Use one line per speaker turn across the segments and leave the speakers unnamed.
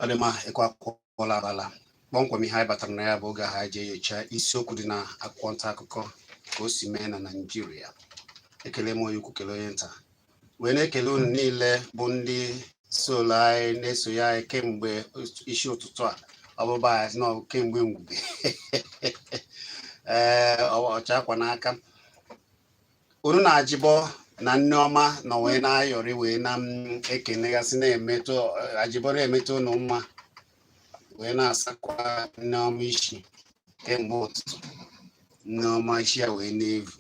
ọ dị mma ekwe akụọla abala kpọmkwem ihe anyị batara na ya bụ oge ahụ e ji enyocha isiokwu dị na akwụkwọ nta akụkọ ka o si mee na naijiria ekele m onye ukwu kelee onye nta wee na-ekele unu niile bụ ndị solo anyị na-eso anyị kemgbe isi ụtụtụ a ọbụba anyị nọ kemgbe mgbe ee ọcha akwa n'aka unu na ajibo na nneọma nọ wee na-ayọrị wee na-ekenegasị na-emetụ ajibo na-emeta unu mma wee na-asakwa nneọma isi kemgbe ụtụtụ nneọma isi ya wee na-evu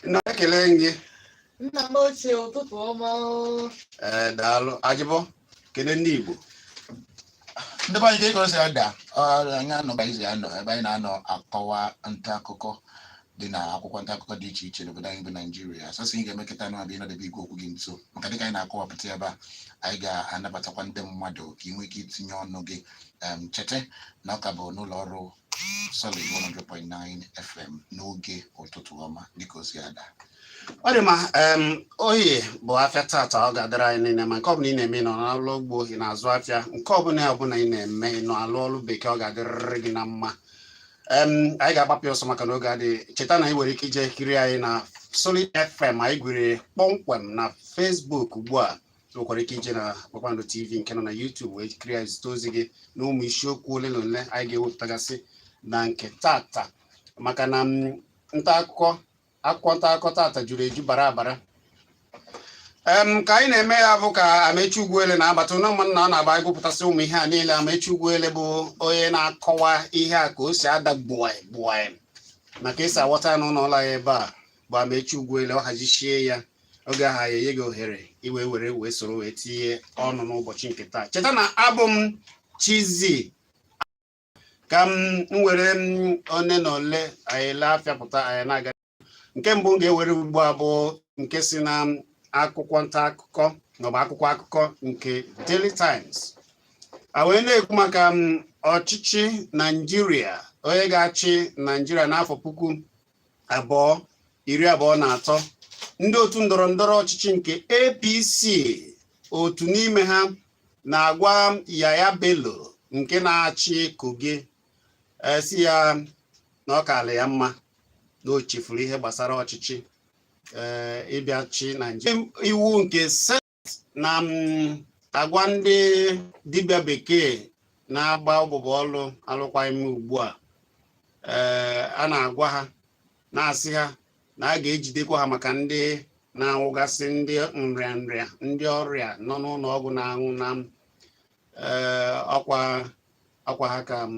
nna ekele gị nna m
ochie ụtụtụ ọma
ee daalụ ajibo kele ndị
igbo ndị be anyị ka egwu si ada anyị anọba izi anọ ebe anyị na-anọ akọwa nta akụkọ dị na akwụkwọ nta akụkọ dị iche iche n'obodo anyị bụ naijiria sọsọ ị ga-emekọta anụ abịa ịnọdebe igwe okwu gị nso maka dịka anyị na-akọwapụta ebe a anyị ga-anabatakwa ndị mmadụ ka ị nwee ike itinye ọnụ gị em, cheta na ọ ka bụ n'ụlọ ọrụ solid 100.9 fm n'oge ụtụtụ ọma dịka o si ada ọ dị mma
em, oye bụ afịa tata ọ ga-adịrị anyị niile mma nke ọbụla ị na-eme ị nọ n'ọlụ ugbo ị na-azụ afịa nke ọbụla ọbụla ị na-eme ị nọ alụ ọlụ bekee ọ ga-adịrịrị gị na mma anyị ga-agbapụ ọsọ maka na oge adịghị cheta na ị nwere ike ije kiri anyị na Solid FM anyị gwere kpọmkwem na Facebook ugbu a nwekwara ike ije na Kpakpando TV nke nọ na YouTube wee kiri anyị zite ozi gị na ụmụ isiokwu ole na ole anyị ga-ewepụtagasị na nke tata maka na nta akụkọ akwụkwọ nta akụkọ tata juru eju bara abara em ka anyị na-eme ya bụ ka Amechi Ugwuele na-abata ụlọ ụmụnna ọ na-agba ịgụpụtasị ụmụ ihe a niile Amechi Ugwuele bụ onye na-akọwa ihe a ka o si ada gbuai gbuai ma ka e si aghọta ya n'ụlọ ụlọ ya ebe a bụ Amechi Ugwuele ọ hazisie ya oge ahụ ya enye gị ohere iwe were wee soro wee tinye ọnụ n'ụbọchị nke taa cheta na abụ m Chizzy ka m were one na ole anyị na-afịapụta anyị na-aga nke mbụ m ga-ewere ugbu a bụ nke si na akwụkwọ nta akụkọ maọbụ akwụkwọ akụkọ nke Daily Times a wee na-ekwu maka ọchịchị Naijiria onye ga-achị Naijiria n'afọ puku abụọ iri abụọ na atọ ndị otu ndọrọ ndọrọ ọchịchị nke APC otu n'ime ha na-agwa Yaya Bello nke na-achị Kogi e, sị ya na ọ kaala ya mma na o chefuru ihe gbasara ọchịchị e, ịbịa ịchị Naijiria iwu nke na m agwa ndị dibịa bekee na-agba abụbọ ọlụ alụkwaghị m ugbu a ee a na-agwa ha na-asị ha na a ga-ejidekwa ha maka ndị na-anwụgasị ndị nrịa nrịa ndị ọrịa nọ n'ụlọ ọgwụ na-anwụ na m ee ọkwa ọkwa ha ka m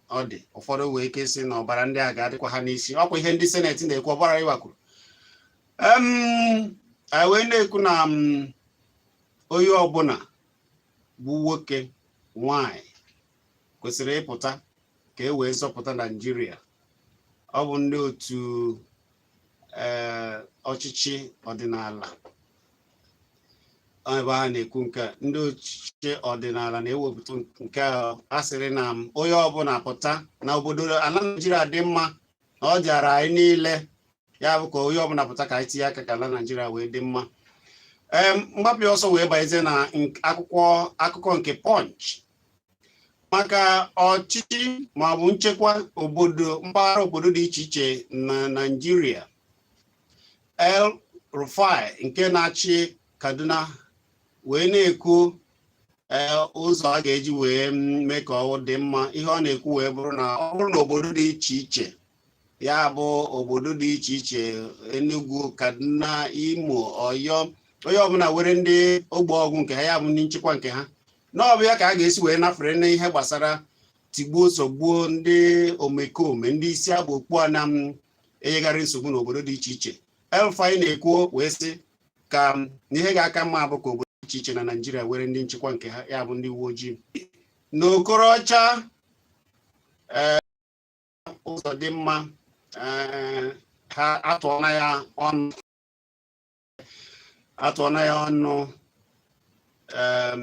ọ dị ụfọdụ wee ike sị na ọbara ndị a ga-adịkwa ha n'isi ọkwa ihe ndị seneti na-ekwu Oba Rilwan Akiolu em wee na-ekwu na onye ọbụla bụ nwoke nwanyị kwesịrị ịpụta ka e wee zọpụta naijiria ọ bụ ndị otu ee ọchịchị ọdịnala ebe ha na-ekwu nke a, ndị ọchịchị ọdịnala na-ewepụta nke a a sịrị na m onye ọbụla pụta na obodo ala naijiria dị mma na ọ dịara anyị niile ya bụ ka onye ọbụla pụta ka anyị tinye aka ka ala naijiria wee dị mma ee mgbapụ ọsọ wee banyezie na nk- akwụkwọ akụkọ nke punch maka ọchịchị ma ọ bụ nchekwa obodo mpaghara obodo dị iche iche na Naịjirịa El Rufai nke na-achị Kaduna wee na-ekwu e, ụzọ a ga-eji wee mee ka ọ dị mma ihe ọ na-ekwu wee bụrụ na ọ bụrụ na obodo dị iche iche ya bụ obodo dị iche iche Enugu Kaduna Imo Ọyọ onye ọbụla were ndị ogbo ọgụ nke ha ya bụ ndị nchekwa nke ha na ọ bụ ya ka a ga-esi wee nafere n'ihe gbasara tigbuo zọgbuo ndị omekome ndị isi aba okpu a na-enyegharị nsogbu n'obodo dị iche iche El Rufai na-ekwu wee sị ka ihe ga-aka mma bụ ka obodo dị iche iche na naijiria were ndị nchekwa nke ha ya bụ ndị uwe ojii na Okorocha Ụzọdịmma eh, ha atụọna ya ọnụ atụọna ya ọnụ em,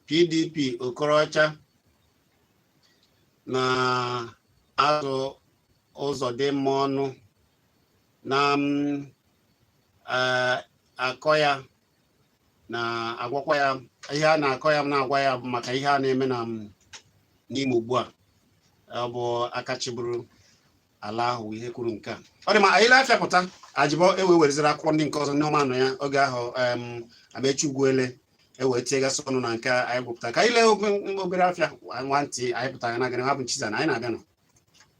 pdp Okorocha na-atụ Ụzọdịmma ọnụ na m, eh, akọ ya na-agwakwa ya ihe a na-akọ ya na-agwa ya maka ihe a na-eme na n'Imo ugbu a ọ bụ aka chịburu ala ahụ ihe kwuru nke a ọ dị mma anyị lee afịa pụta Ajibo ewe wereziri akwụkwọ ndị nke ọzọ ndị ọma nọ ya oge ahụ Amechi Ugwuele ewee tinyegasị ọnụ na nke anyị gụpụta ka anyị lee obere afịa nwa ntị anyị pụtara na gịnị ha bụ nchiza na anyị na-abịa nọ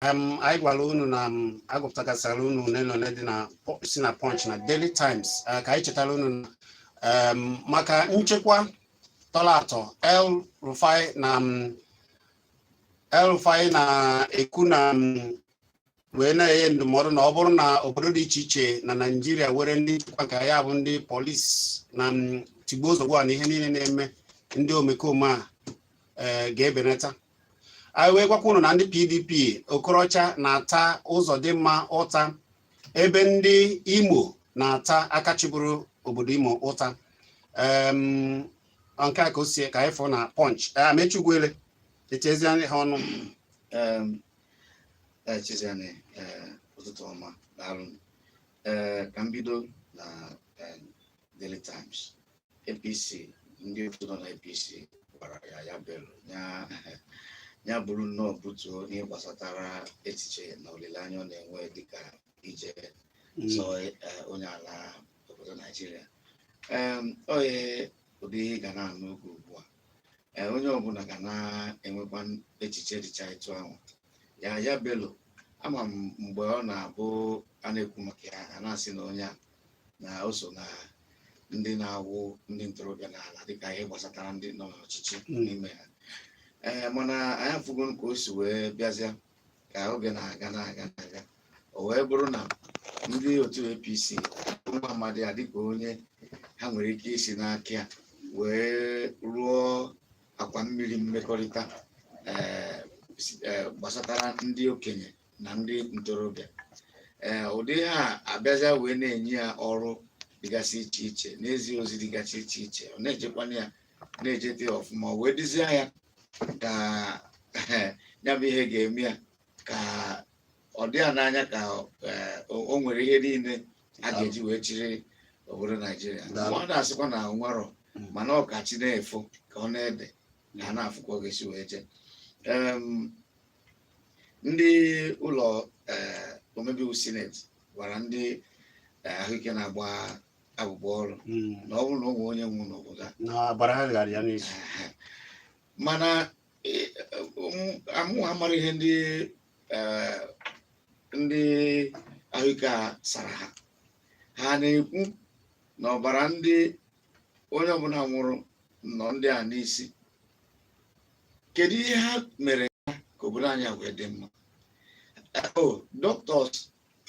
um, anyị gwara unu na um, agụpụtagasịra unu ole na ole dị na po- si na punch na daily times uh, ka anyị chetara unu na um, maka nchekwa tọrọ atọ el rufai na um, el rufai na-ekwu na um, wee na-enye ndụmọdụ na ọ bụrụ na obodo dị iche iche na naijiria were ndị nchekwa nke ya bụ ndị polisi na um, tigbuo zọgbuo a na ihe niile na-eme ndị omekome a eh, ga-ebenata anyị wee gwakwa unu na ndị PDP Okorocha na-ata Uzodinma ụta ebe ndị Imo na-ata aka chịburu obodo Imo ụta nke a ka o sie ka anyị fụ na Punch Amechi Ugwuele echezie ha
ọnụ echezianị e, ụtụtụ ọma daalụ ka m bido na e, Daily Times APC ndị otu nọ na APC gwara Yahaya Bello ya buru nnọọ butuo ihe gbasatara echiche na olileanya ọ na-enwe dịka ije hmm. zọọ e, onye ala obodo Naijiria o nwee ụdị ihe ị ga na-anụ oge ugbu a e, onye ọbụla ga na-enwekwa echiche dịcha etu ahụ Yahaya Bello ama m mgbe ọ na-abụ a na-ekwu maka ya a na-asị na onye a na o so na ndị na-awụ ndị ntorobịa n'ala dịka ihe gbasatara ndị nọ n'ọchịchị Mm. n'ime ha ee mana anyị afụgo ka o si wee bịazịa ka oge na-aga na-aga na-aga o wee bụrụ na ndị otu apc nwa amadi a dịka onye ha nwere ike isi n'aka ya wee rụọ akwa mmiri mmekọrịta ee si- ee, gbasatara ndị okenye na ndị ntorobịa ee eh, ụdị ha abịazia wee na-enye ya ọrụ dịgasị iche iche na-ezi ozi dịgasị iche iche ọ na-ejekwana ya na-ejete ya ọfụma wee dịzie ya ka eh, ya bụ ihe ga-eme ya ka ọ dị ya n'anya ka eh, o nwere ihe niile a ga-eji wee chịrị obodo naijiria mmadụ asịkwa na o nwerọ hmm. mana ọ ka chi na-efo ka ọ na-ede na a na-afụ ka ọ ga-esi wee jee ndị ụlọ eh, omebe iwu sineti gwara ndị eh, ahụike na-agba abụbọ ọrụ mm. na ọ bụrụ na o nwee onye nwụ n'obodo a na ọbara ha ga-adị ya n'isi Ehe. mana eh, ụmụ- amụwa mara ihe ndị eh, ndị ahụike a sara ha ha na-ekwu na ọbara ndị onye ọbụla nwụrụ nọ ndị a n'isi kedu ihe ha mere ha ka obodo anyị a wee dị mma ọ doctors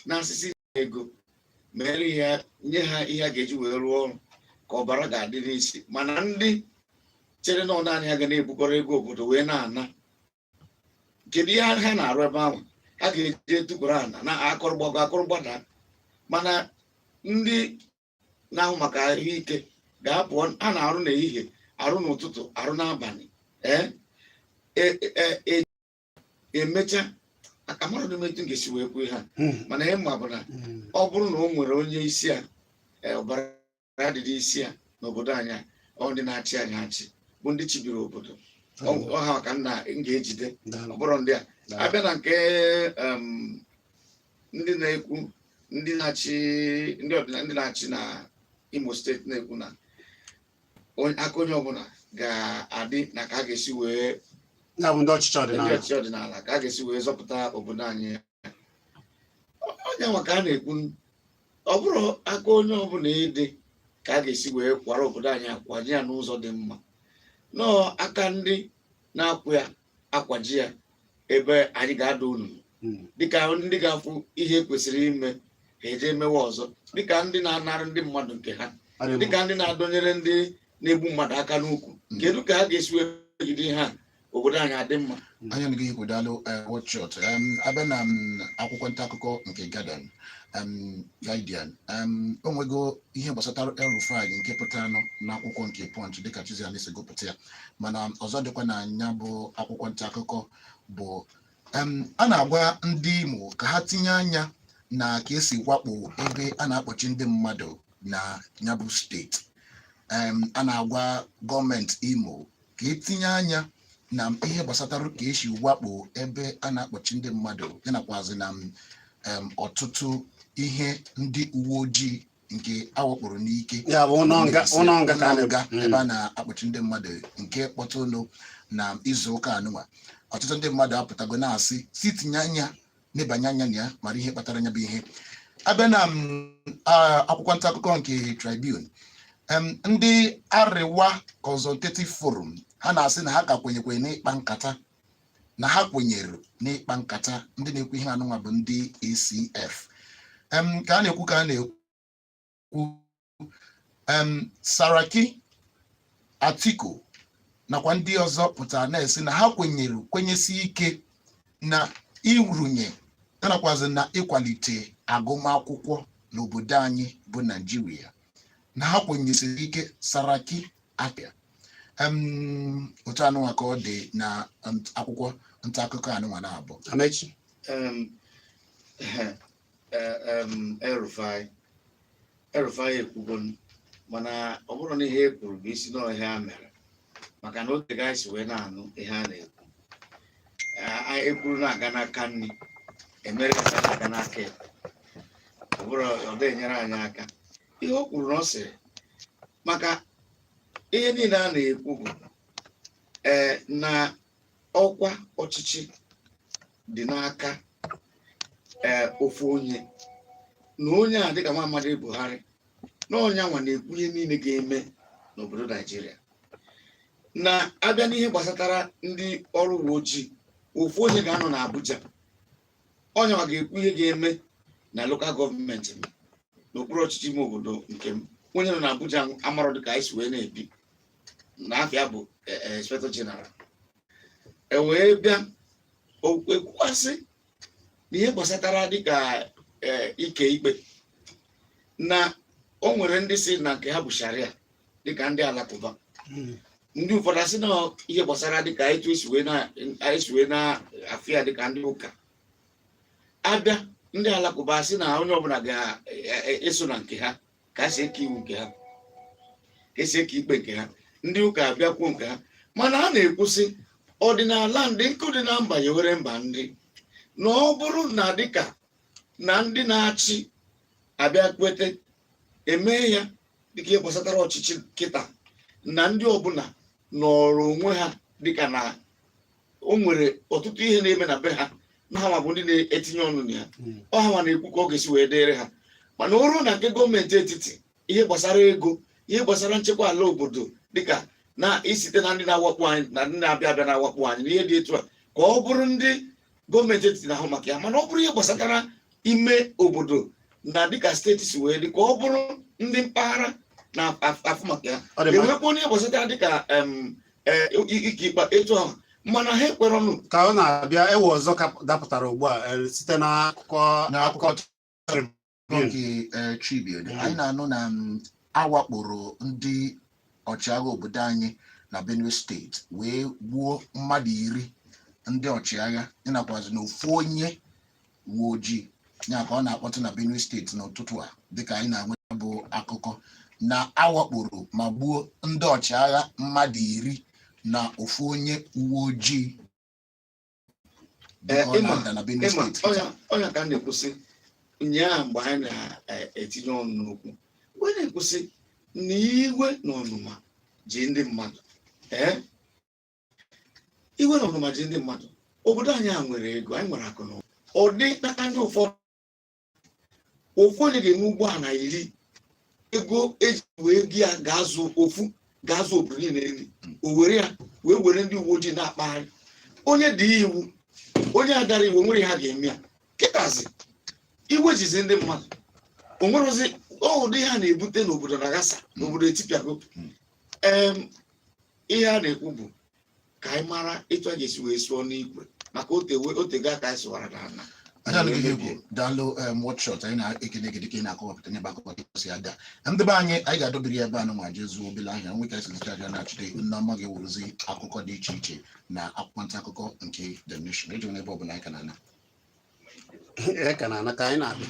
na-asị sị ego mere ya nye ha ihe a ga-eji wee rụọ ọrụ ka ọbara ga-adị n'isi mana ndị chere na ọ naanị ha ga na-ebukọrọ ego obodo wee na-ana kedu ihe ha na-arụ ebe ahụ ha ga-eji etukwuru ana na akụrụgbago akụrụgbada mana ndị na-ahụ maka ahụike ga-apụ ha na-arụ n'ehihie arụ n'ụtụtụ arụ n'abalị ee e, e, e, emecha a ka amarọdị m etu m ga-esi wee kwuo ihe a hmm. mana ihe m ma bụ na hmm. ọ bụrụ na o nwere onye isi a ọbara adịrị isi a n'obodo anyị a ọ ndị na-achị anyị achị bụ ndị chịbiri obodo ọ ha ka m ga-ejide ọ bụrọ ndị a a bịa na nke ndị na-ekwu ndị na-achị ndị ọdịnala ndị na-achị na imo steeti na-ekwu na onye- aka onye ọbụla ga-adị na ka a ga-esi wee ya bụ ndị ọchịchị ndị ọdịnala ọchịchị ọdịnala ka a ga-esi wee zọpụta obodo anyị ọ nya nwa ka a na-ekwu ọ bụrụ aka onye ọbụla ịdị ka a ga-esi wee kwara obodo anyị a kwaje ya n'ụzọ dị mma nọọ aka ndị na-akwụ ya akwaje ya ebe anyị ga-ada ọnụ hmm. dịka ndị ga-afụ ihe kwesịrị ime ha eje emewe ọzọ dịka ndị na-anara ndị mmadụ nke ha dịka ndị na-adọnyere ndị na-egbu mmadụ aka n'ukwu hmm. kedu ka ha ga-esi wee jide ha obodo anyị adị mma hmm. anya nige igwe
daalụ eh, wọchọt a bịa na mm, akwụkwọ nta akụkọ nke Guardian o nwego ihe gbasatara El Rufai nke pụtara n'akwụkwọ nke Punch dịka Chiziani si gụpụta ya mana ọzọ dịkwa na nya bụ akwụkwọ nta akụkọ bụ em, a na-agwa ndị Imo ka ha tinye anya na ka e si wakpo ebe a na-akpọchi ndị mmadụ na nya bụ steeti Em, a na-agwa gọọmenti Imo ka e tinye anya na ihe gbasatara ka e si wakpo ebe a na-akpọchi ndị mmadụ ya nakwazi na em, ọtụtụ ihe ndị uwe ojii nke a wakporo n'ike ya bụ ụlọ nga ụlọ nga ka a na-ebe nga ebe a na-akpọchi ndị mmadụ nke kpọtụnụ na izu ụka a nụnwa ọtụtụ ndị mmadụ apụtago na-asị sị tinye anya nebanye anya na ya mara ihe kpatara nya bụ ihe a bịa na m, a- akwụkwọ nta akụkọ nke Tribune em, ndị Arewa Consultative Forum ha na-asị na ha ka kwenyekwe n'ịkpa nkata na ha kwenyere n'ịkpa nkata ndị na-ekwu ihe anụnwa bụ ndị ACF em ka a na-ekwu ka a na-ekwu em Saraki Atiku nakwa ndị ọzọ pụtara na-esi na ha kwenyere kwenyesi ike na irunye nakwazi na ịkwalite agụmakwụkwọ n'obodo anyị bụ Naijiria na ha kwenyesiri ike Saraki apịa otu anụnwa ka ọ dị na akwụkwọ nta akụkọ anụnwa na-abụ
Amaechi El-Rufai El-Rufai ekwugo mana ọ bụrụ na ihe e kwuru bụ isi n'ihe e mere maka na o tego anyị si wee na-anụ ihe a na-ekwu ekwuru na-aga n'aka nri emere na-aga n'aka ekpe ọ bụrụ ọ dịghị enyere anyị aka ihe o kwuru na ọ sịrị maka ihe niile a na-ekwu bụ ee na ọkwa ọchịchị dị n'aka ee ofu onye na onye a dịka nwa amadi Buhari na onye anwa na-ekwu ihe niile ga-eme n'obodo naijiria na abịa n'ihe gbasatara ndị ọrụ uwe ojii ofu onye ga-anọ n'abuja onye nwa ga-ekwu ihe ga-eme na lokal gọọmenti m n'okpuru ọchịchị ime obodo nke m onye nọ na Abuja amarọ dịka anyị si wee na-ebi na afa ya bụ e, e, inspector general e wee bịa ekwukwasị na ihe gbasatara dịka e, ike ikpe na o nwere ndị sị na nke ha bụ sharia dịka ndị alakụba hmm. ndị ụfọdụ asị na ihe gbasara dịka etu esi wee na-afụ ya dịka ndị ụka abịa ndị alakụba asị na onye ọbụla ga-eso e, e, na nke ha ka esi eke iwu nke ha ka esi eke ikpe nke ha ndị ụka abịa kwuo nke ha mana a na-ekwusị ọdịnala ndị nke dị na mba yewere mba ndị na ọ bụrụ na dịka na ndị na-achị abịa kweta emee ya dịka ihe gbasatara ọchịchị kịta na ndị ọbụla nọrọ onwe ha dịka na o nwere ọtụtụ ihe na-eme na be ha na hanwa bụ ndị na-etinye ọnụ na ya hmm. ọ hanwa na-ekwu ka ọ ga-esi wee dịrị ha mana o ruo na nke gọọmenti etiti ihe gbasara ego ihe gbasara nchekwa ala obodo dịka na isite na ndị na-awakpo anyị na ndị na-abịa abịa na-awakpo anyị na ihe dị etu a ka ọ bụrụ ndị gọọmenti etiti na-ahụ maka ya mana ọ bụrụ ihe gbasatara ime obodo na dịka steeti si wee dị ka ọ bụrụ ndị mpaghara na-afụ maka ya Ọ dị mma. enwekwa ihe gbasatara dịka em, eh, ike ikpe etu ahụ mana ha ekwere ọnụ ka ọ na-abịa ihe
ọzọ ka dapụtara ugbu a eh, site n'akụkọ N'akụkọ akụkọ
nke eh, Tribune anyị na-anụ na mm, awakporo ndị ọchịagha obodo anyị na Benue steeti wee gbuo mmadụ iri ndị ọchịagha ịnakwazị na ofu onye uwe ojii ya ka ọ na-akpọtụ na Benue steeti n'ụtụtụ a dịka anyị na-enweta bụ akụkọ na awakporo ma gbuo ndị ọchịagha mmadụ iri na ofu onye uwe ojii Ee, ị ma Ọnanda na Benue ị ma steeti ọ ya ọ ya ka a
na-ekwusị ụnyaa mgbe anyị na-etinye ọnụ n'okwu mgbe a na-ekwusị na iwe na ọnụma ji ndị mmadụ ee iwe na ọnụma ji ndị mmadụ obodo anyị a nwere ego anyị nwere akụ na ụba. ọ dị n'aka ndị ụfọdụ ofu onye ga-enwe ụgbọala iri ego e ji wee go ya ga-azụ ofu ga-azụ obodo niile nri o were ya wee were ndị uwe ojii na-akpagharị onye dị iwu onye a dara iwu o nwerọ ihe a ga-eme ya kịtazi iwe jizi ndị mmadụ o nwerozi ụdị ihe a na-ebute n'obodo na-aghasa n'obodo etipịago em ihe a na-ekwu bụ ka anyị mara etu a ga-esi wee sụọ n'ikwe maka otewe o teego aka anyị sụwara n'ana anyị alụghị ihe
egwu daalụ em wọtshọt anyị na-ekene gị dịka ị na-akọwapụta n'ebe akụkọ gị si ada ndị be anyị anyị ga-adọbiri ya ebe a nụnwa jee zụọ obele ahịa nweta esi ncha abịa na-achịte Nneọma ga-ewuruzi akụkọ dị iche iche na akwụkwọ nta akụkọ nke The Nation ejena ebe ọbụla anyị ka na-ana e ka
na-ana ka anyị na-abịa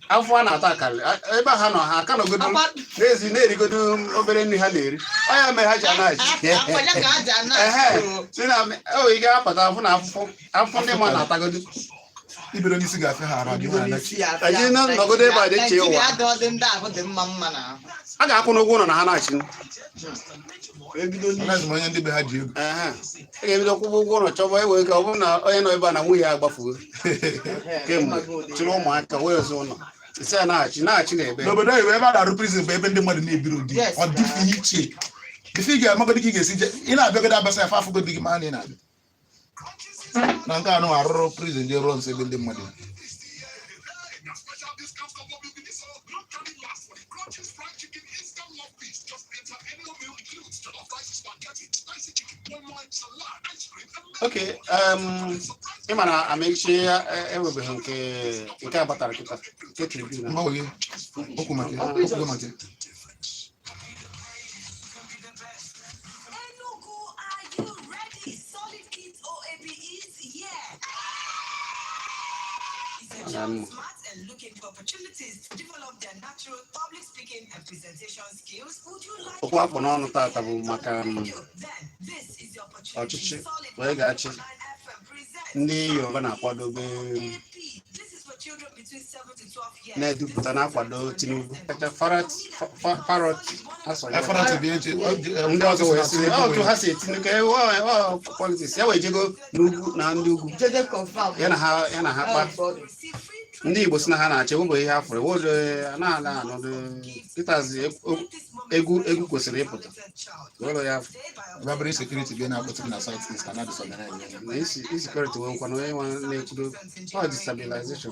afọ a na-ata akarị ebe ha nọ ha ka nọgodo n'ezi na-erigodo obere nri ha na-eri ọ ya mere ha ji anaghị asị na o ị ga-apụta afụ na afụfụ afụfụ ndị mmadụ na-atagodo
ibere n'isi ga-afịa ha ara anyị
na nọgodo ebe a dị iche ụwa a ga-akwụ n'ụgwọ ụlọ na ha na-achị ebido
n'isi Anaghịzi m onye ndị be ha ji ego. Aha. Ị
ga-ebido kwụba ụgwọ ụlọ chọba e wee ka ọ bụrụ na onye nọ ebe a na nwunye ya agbafuo kemgbe chịrị ụmụaka wee zụ ụlọ isi a na-achị na-achị na ebe N'obodo oyibo ebe a na-arụ
prison bụ ebe ndị mmadụ na-ebirọ ụdị. Yes, Ọ dị iche. Ife ị ga-amagodi ka ị ga-esi je. Ị na-abịagodi abasa ya fa afụgodi gị maa na ị na-abịa. na nke anyị a rụrụ prison dị ruo nso ebe ndị
mmadụ ok ị ma na Amechi ya enwebeghị nke nke a batara kịta nke Tribune mgbanwe gị okwu
maka ya okwu maka ya
okwu a kpụ n'ọnụ tata
bụ maka
um, ọchịchị
onye ga-achị ndị Yoruba na-akwadobe um, na-edupụta na-akwado Tinubu ndị ọzọ wee sị otu ha si etinye politics ya wee jego n'ugwu na ndị ugwu ya na ha kpa ndị Igbo si na ha na-achị ụbọ ihe ha fụrụ wod na-ala anọdụ kịtazi egwu egwu kwesịrị ịpụta ụlọ ya rabri security
gị na-akpọtụ na South East na-adịsọ
na insecurity nwekwana onye nwa na-ekwudo ọ destabilization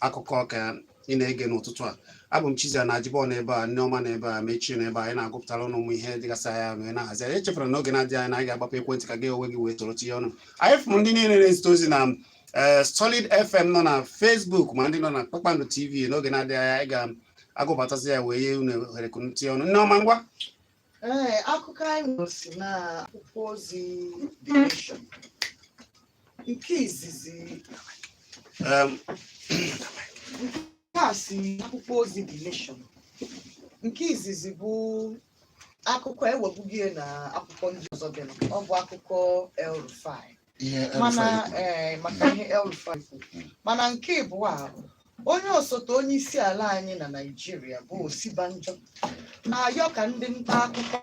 akụkọ ka ị na-ege n'ụtụtụ a abụ m Chizzy na Ajibo n'ebe a Nneoma n'ebe a Mechie n'ebe a anyị na-agụpụtara unu ụmụ ihe dịgasị anya ma ị na-ahazi anyị echefere n'oge na-adịghị anya na anyị ga-agbapụ ekwentị ka gị onwe gị wee toro tinye ọnụ anyị fụrụ ndị niile na-ezite ozi na eh, Solid FM nọ na Facebook ma ndị nọ na Kpakpando TV n'oge na-adịghị anya anyị ga-agụpụtasị ya wee nye unu ohere ka unu tinye ọnụ Nneoma ngwa
Ee, akụkọ anyị nwere si na akwụkwọ ozi The Nation nke izizi Em, nke a si akwụkwọ ozi The Nation nke izizi bụ akụkọ e nwebugo na akwụkwọ ndị ọzọ dị nụ. ọ bụ akụkọ El Rufai ihe mana El-Rufai kwuru. ee, maka ihe El-Rufai kwuru. Mm. mana nke ịbụa bụ onye osote onye isi ala anyị na Naịjirịa bụ Osibanjo na-ayọ ka ndị nta akụkọ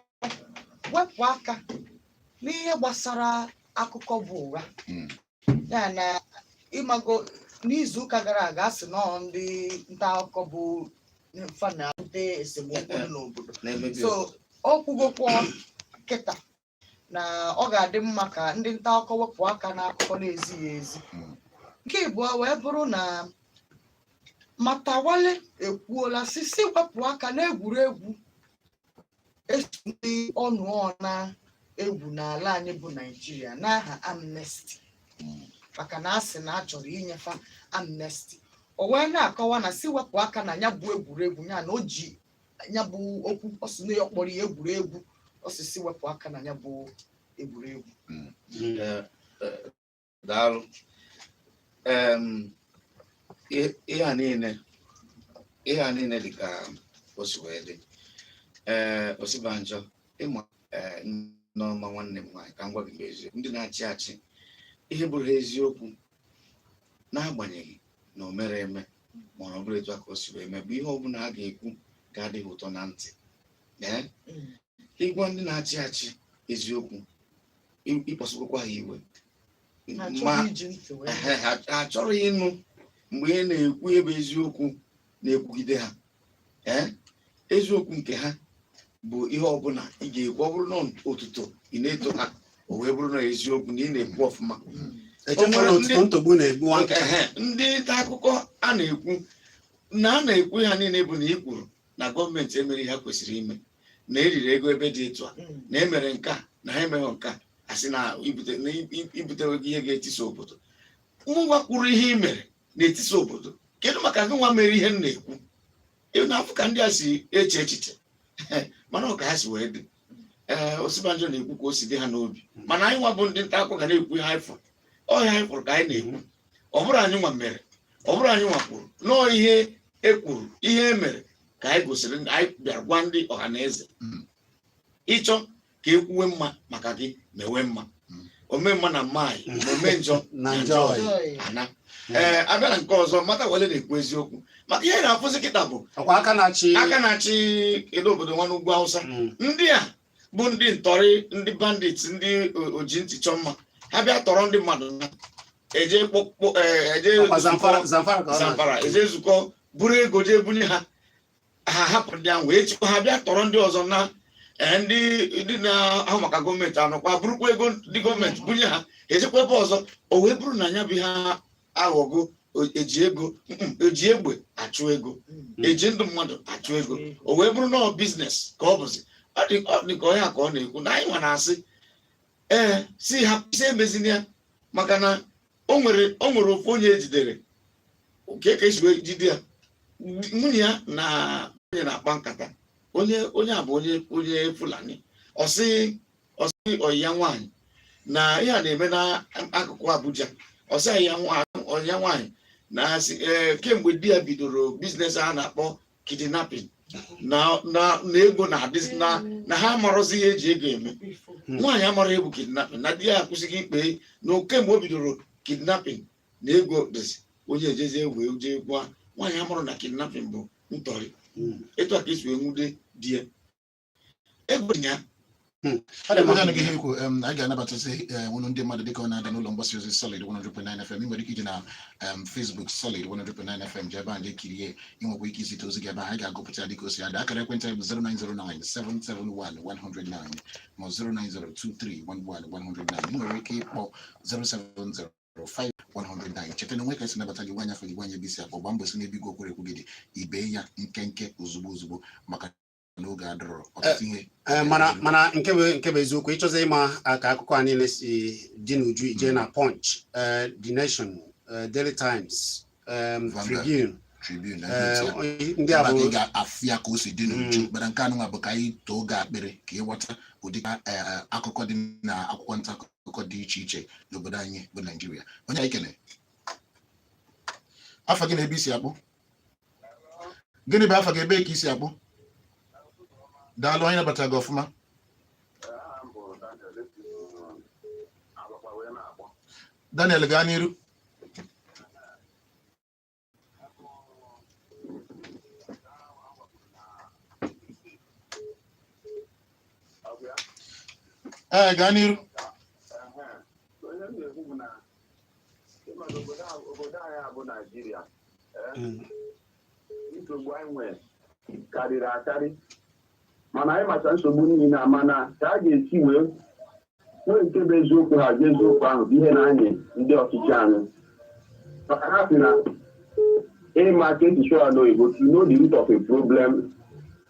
wepụ aka n'ihe gbasara akụkọ bụ ụgha Mm. ya na ị mago n'izu ụka gara aga a sị na ọ ndị nta akụkọ bụ fa na-abute esemokwu dị n'obodo na-emebi so ọ kwugokwa kịta na ọ ga-adị mma ka ndị nta akụkọ wepụ aka n'akụkọ na-ezighị ezi Mm. nke ịbụa wee bụrụ na Matawalle ekwuola sị sị wepụ aka n'egwuregwu e so ndị ọnụ na-egwu n'ala anyị bụ Naịjirịa n'aha amnesty Mm. maka na a sị na a chọrọ inye fa amnesty o wee na-akọwa na sị wepụ aka na ya bụ egwuregwu ya na o ji ya bụ okwu ọ sị na ya kpọrọ ya egwuregwu ọ sị sị wepụ aka na ya bụ
egwuregwu daalụ ihe a niile ihe a niile dị ka o si wee dị ee Osibanjo ị ma ee Nneoma nwanne m nwaanyị ka m gwa gị eziokwu ndị na-achị achị ihe bụrụ ha eziokwu n'agbanyeghị na o mere eme ma ọ bụrụ etu a ka o si wee mee bụ ihe ọbụla a ga-ekwu ga-adịghị ụtọ na ntị ee Mm. ịgwa ndị na-achị achị eziokwu ị- ịkpọsịkwakwa ha iwe Ha ma chọrọ iji ntị wee ehe, ha ha achọrọ ịnụ mgbe ị na-ekwu ebe eziokwu na-ekwugide ha ee eziokwu nke ha bụ ihe ọbụla ị ga-ekwu ọ bụrụ na otuto ị na-eto ha o wee bụrụ na eziokwu na ị na-ekwu ọfụma echekwala O nwere otuto ndị- ntogbu na-egbu nwa nkịta Ehe, ndị nta akụkọ a na-ekwu na a na-ekwu ha niile bụ na i kwuru na gọọmenti emerọ ihe ha kwesịrị ime na eriri ego ebe dị etu a na emere nke a na ha emeghị nke a a sị na ibute- na i- i- ibutewego ihe ga-etisa obodo nwa kwuru ihe i mere na-etisa obodo kedu maka gị nwa mere ihe m na-ekwu ị na-afụ ka ndị a si eche echiche mana ọ ka ha si wee dị ee Osinbajo na-ekwu ka o si dị ha n'obi mana anyị nwa bụ ndị nta akụkọ ga na-ekwu ihe anyị fụrụ ọ ihe anyị fụrụ ka anyị na-ekwu ọ bụrọ anyị nwa mere ọ bụrọ anyị nwa kwuru na ọ ihe e kwuru ihe e mere ka anyị gosiri ndị- anyị bịara gwa ndị ọha na eze Mm. ị chọọ ka e kwuwe mma maka gị mewe mma Mm. ome mma na mma yi ana ome njọ na na njọ njọ yi ana Mm. ee abịa na nke ọzọ Matawalle na-ekwu eziokwu maka ihe na-afụzi kịta bụ ọkwa aka na-achị aka
na-achị kedu obodo
nwa n'ugwu awụsa Mm. ndị a bụ ndị ntọrị ndị bandit ndị o- oji ntị chọọ mma ha bịa tọrọ ndị mmadụ na eje kpọkpọ ee, eje ọkwa zamfara zamfara ka ọ na- zamfara eje nzukọ buru ego jee bunye ha ha hapụ ndị ahụ echikwa ha bịa tọrọ ndị ọzọ na eh, ndị ndị na-ahụ maka gọọmenti anọkwa burukwa ego ndị gọọmenti bunye ha ejekwa ebe ọzọ o wee bụrụ na nya bụ ihe aghọgo eji ego eji egbe achụ ego hmm. eji ndụ mmadụ achụ ego hmm. o wee bụrụ na ọ biznes ka ọ bụzi ọ dị ka ọ ihe a ka ọ na-ekwu na anyị nwa na-asị ee eh, sị ha sị emezina ya maka na o nwere o nwere ofu onye ejidere nke ka esi wee jide ya nwunye ya na onye na-akpa nkata onye onye a bụ onye onye fulani ọ sị ọ sị ọyị ya nwaanyị na ihe a na-eme n'akụkụ abuja ọ sị ọyị ya nwa- ọyị ya nwaanyị na asị ee kemgbe di ya bidoro biznes a na-akpọ kidnapping na na na ego na adịzi na na ha amarọzi ihe eji ego eme Hmm. nwaanyị amarọ ihe bụ kidnapping na di ya akwụsịgo ịkpa ehi na kemgbe o bidoro kidnapping na ego dịzi onye ejezie wee jee gwa nwaanyị amarọ na kidnapping bụ ntọrị Hmm. etu a ka esi wee nwude di ya ego ya hmm.
anyị ga-anabatazi eh, ọnụ ndị mmadụ dịka ọ na-ada n'ụlọ mgbasa ozi Solid 100.9 FM ị nwere ike ije na Facebook Solid 100.9 FM jee ebe a ga-ekirie ị nwekwa ike izite ozi gị ebe anyị ga-agụpụta ya dịka o si ada akara ekwentị bụ 09097711109 ma 09023111109 ị nwere ike ịkpọ 070 5 109 cheta na o nwe ka e si nabata gị gwa anyị afa gị gwa anyị ebe i si akpọ gbaa mbọ si n'ebe igwe okwerekwu gị dị i bee ya nkenke ozugbo ozugbo maka na oge adịrọ ọtụtụ ihe Ee, mana mana
nke bụ nke bụ eziokwu ị chọzie ịma ah, ka akụkọ a niile si dị n'uju ị jee na Punch eh, the nation eh, daily times em, Vanguard. tribune Tribune na eh, ndị onye- ndị a ebe bụ ị ga-afụ ya ka o si
dị n'uju Mm. mana nke anụnwa bụ ka anyị tọọ gị akpịrị ka ị ghọta ụdị eh, eh, akụkọ dị na akwụkwọ nta akụkọ dị iche iche n'obodo anyị bụ naijiria onye anyị kene afa gị na ebe i si akpọ gịnị bụ afa gị ebe ka i si akpọ daalụ anyị nabatara gị ọfụma Daniel gaa n'iru ee gaa n'iru
ị ma na obodo a- obodo anyị a bụ naijiria eh, Mm. nsogbu anyị nwere karịrị akarị mana anyị macha nsogbu niile a mana ka a ga-esi wee nwee nke bụ eziokwu ha ji eziokwu ahụ bụ ihe na-anyị ndị ọchịchị anyị maka ha sị na ị ma ka e si sụọ ya n'oyibo to know the root of a problem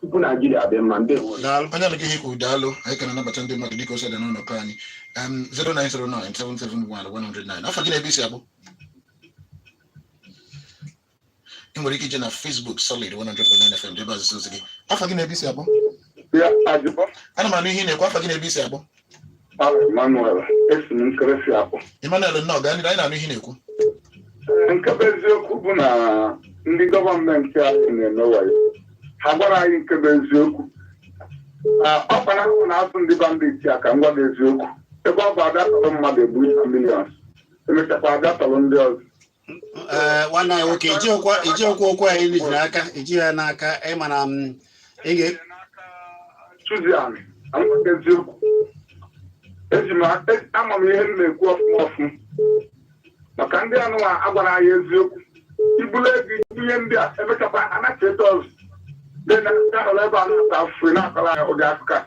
tupu naijiria dị mma ndị daalụ anyị anụgo ihe i
kwuru daalụ anyị ka na-anabata ndị mmadụ dịka o si ada n'ụlọ ọrụ anyị em 0909771 afa gị na ebe i si akpọ ị nwere ike ije na Facebook solid 100.9 FM jee ebe ahụ zie ozi gị afa gị na ebe i si akpọ
ya ajụbọ ana m anụ ihe ị na-ekwu
afa gị na ebe i si akpọ Aha
Emmanuel, esi m Nkerefi akpọ. Emmanuel nnọọ gaa n'ihu
anyị na-anụ ihe ị na-ekwu Nke
bụ eziokwu bụ na ndị gọọmenti anyị na-eme wayo. Ha agwarọ anyị nke bụ eziokwu. Ah, Ọ kpara ahụ na-azụ ndị bandit a ka m gwa gị eziokwu. Ebe ọ bụ abịa tọrọ mmadụ ebunye millions. Emechakwa abịa tọrọ ndị ọzọ.
eh, nwanne anyị nwoke i ji okwu i ji okwu okwu anyị ji n'aka i ji ya n'aka ị ma na m ị ga
Susan, anyị nwere eziokwu. Eji m a- e- ama m ihe m na-ekwu ọfụma ọfụma. Maka ndị anụwa agwarọ anyị eziokwu. E bulu ego nye ndị a emechakwa anacheta ọzọ. Dị na ndị ahụrụ ebe a na-ata afụfụ na-akọrọ anyị ụdị akụkọ a.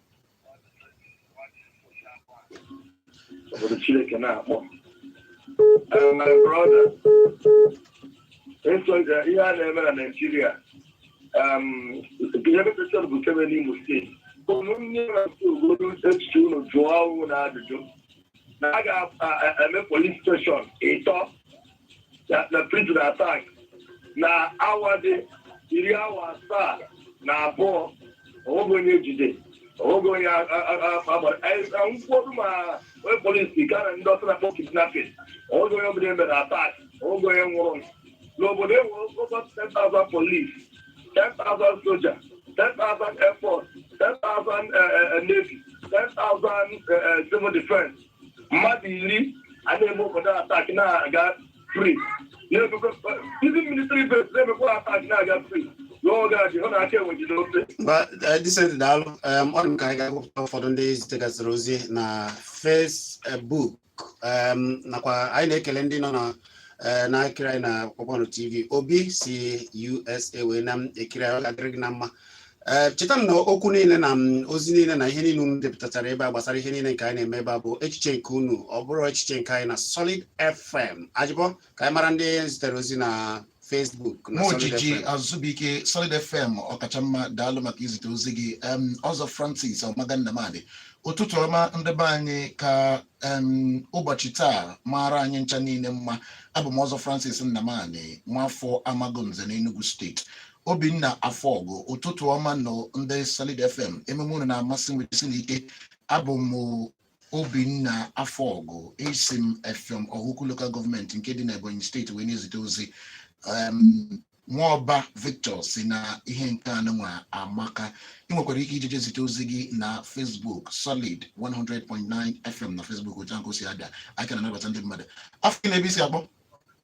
obodo Chineke na-akpọ Eh, my brother esoja ihe a na-eme na Naịjirịa um, ihe mepụtara bụ kebe n'Imo steeti unu nye na-asị obodo echiche unu jụọ onwe unu ajụjụ na a ga-eme police station ịtọ na- na prison attack na awa dị iri awa asaa na abụọ onweghị onye ejide onweghị onye a- a- a- a- agbara Anyị- na ụfọdụ ma onye polisi gara ndị ọsọ na-akpọ kidnapping onweghị onye ọbụla emere attack onweghị onye nwụrụ n'obodo e nwere over 10,000 police 10,000 soja 10,000 air force 10,000 eh, eh, navy 10,000 eh, eh, civil defense mmadụ iri ana-eme obodo attack na-aga free ndị military base na-emekwa attack na-aga free n'oge a jehova aka enwe jide ofe
Decent daalụ em, ọ dị m ka anyị ga-agụpụta ụfọdụ ndị zitegasịrị ozi na Facebook em, nakwa anyị na-ekele ndị nọ na eh, na-ekiri anyị na Kpakpando TV Obi si USA wee na-ekiri anyị ọ ga-adịrị gị na mma ee eh, cheta na okwu niile na mm, ozi niile na ihe niile unu depụtachara ebe a gbasara ihe niile nke anyị na-eme ebe a bụ echiche nke unu ọ bụrọ echiche nke anyị na Solid FM Ajibo ka anyị mara ndị zitere ozi na Facebook ma Ojiji Azụbụike
Solid FM ọkacha mma daalụ maka izite ozi gị Ọzọ Francis Ọmaga Nnamani ụtụtụ ọma ndị be anyị ka ụbọchị taa maara anyị ncha niile mma abụ m Ọzọ Francis Nnamani nwafọ Amagunze n'Enugu steeti obinna Afọgụ ụtụtụ ọma nụ ndị solid fm emume unu na-amasị m esi n'ike abụ m obinna Afọgụ esi m Effium Ohaukwu local government nke dị n'ebonyi steeti wee na-ezite ozi Em, nwaọba Victor sị na ihe nke a nụnwa amaka ị nwekwara ike ije zite ozi gị na facebook solid 100.9 fm na facebook otu ahụ ka o si ada anyị ka na-anabata ndị mmadụ afa gị na ebe i si akpọ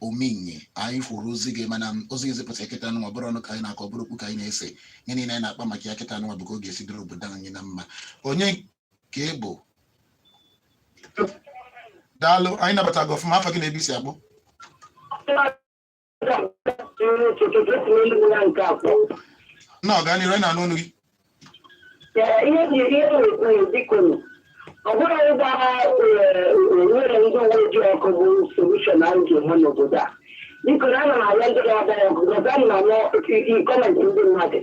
ominye anyị fụrụ ozi gị mana ozi gị zipụta kịta nwa ọ bụrọ ọnụ ka anyị na-akọ ọ bụrọ okwu ka anyị na-ese ihe niile anyị na-akpa maka ya kịta nwa bụ ka ọ ga-esi dịrị obodo anyị na mma onye ka ị bụ daalụ anyị nabata gị ọfụma afa gị na ebe i si akpọ na gaa n'iru anyị na-anụ onu gị
ihe ji ihe na-ekwu bikonu ọ bụrụ ịgba nwere ndị uwe ojii ọkụ bụ solution anyị ga-enwe n'obodo a biko na ana m arịọ ndị na-agba ya ọkụ gọza m na nọ gọọmenti ndị mmadụ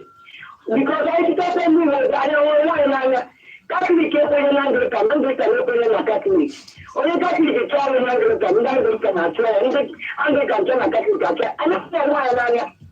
biko ka anyị chịtakwa ndị uwe ojii anyị ahụrọ onwe anyị n'anya katọlik ekwenye na anglikan anglikan ekwenye na katọlik onye katọlik chọọ ọrụ na anglikan ndị anglikan achụọ ya ndị anglikan chọọ na katọlik achụọ ya anyị ahụghị onwe anyị n'anya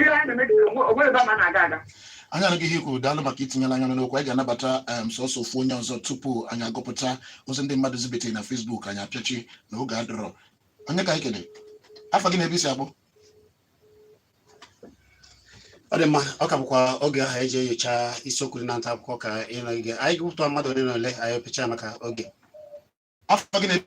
Ihe anyị na-eme kịta, onwe- onwe ebe ama na-aga aga. anyị anụgo ihe i
kwu daalụ maka itinyela anya n'okwu anyị ga-anabata em, sọsọ ofu onye ọzọ tupu anyị agụpụta ozi ndị mmadụ zibetere na Facebook anyị apịachi na oge adịrọ onye ka anyị kene afa gị na ebe i si
akpọ ọ dị mma ọ ka bụkwa oge ahụ eji enyocha isiokwu dị na nta akụkọ ka ị nọgide anyị gụpụta mmadụ ole na ole anyị apịachi maka oge
afa gị na ebe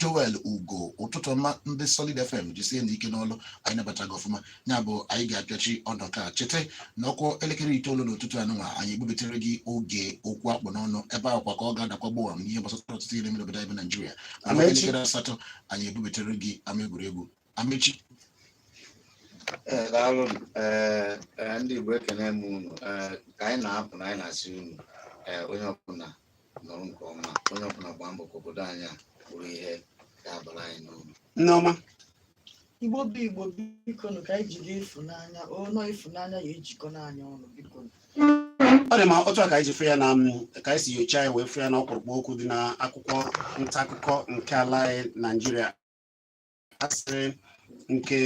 Joel Ugo ụtụtụ ọma ndị Solid FM jisienu ike n'ọlụ anyị nabata gị ọfụma ya bụ anyị ga-apịachi ọdọ ka cheta na ọ kụọ elekere itoolu n'ụtụtụ anụnwa anyị ebubetere gị oge okwu akpụ n'ọnụ ebe ahụ kwa ka ọ ga-adakwa gbowam n'ihe gbasara ọtụtụ ihe mere obodo anyị bụ Naijiria elekere asatọ anyị ebubetere gị ama egwuregwu
Amechi daalụ ndị Igbo ekene m unu ka anyị na-apụ na anyị na-asị unu onye ọbụla nọrọ nke ọma onye ọbụla gbaa mbọ ka obodo anyị a bụrụ ihe ga-abara anyị uru Nneọma
igbo bụ igbo biko ka anyị jide ịfụnanya ọnụ ịfụnanya ya ejikọ anyị ọnụ biko ọ
dị ma otu a ka anyị ji fụ ya na ka anyị si nyocha ya wee fụ ya na ọkpụrụkpụ okwu dị na akwụkwọ nta akụkọ nke ala anyị naijiria asịrị nke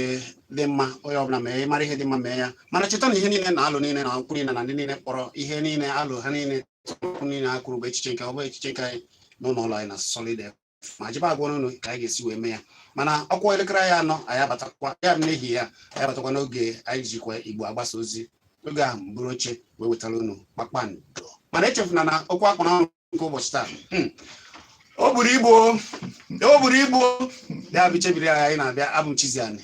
dị mma onye ọbụla mee mara ihe dị mma mee ya mana cheta na ihe niile na alo niile na okwu niile na ndị niile kpọrọ ihe niile alo ha niile okwu niile ha kwuru bụ echiche nke ha ọ bụrọ echiche nke anyị n'ụlọ ọlụ anyị na Solid ma jebe agwa unu ka anyị ga-esi wee mee ya mana ọ kụọ elekere anọ anyị abatakwa ya bụ n'ehihie a anyị abatakwa n'oge anyị jikwa igbo agbasa ozi oge ahụ m buru oche wee wetara unu kpakpando mana echefuna na okwu akpụ n'ọnụ nke ụbọchị taa hmm. o buru ibu o buru ibu ya bụ chebiri anyị anyị na-abịa abụ m Chizzy Ani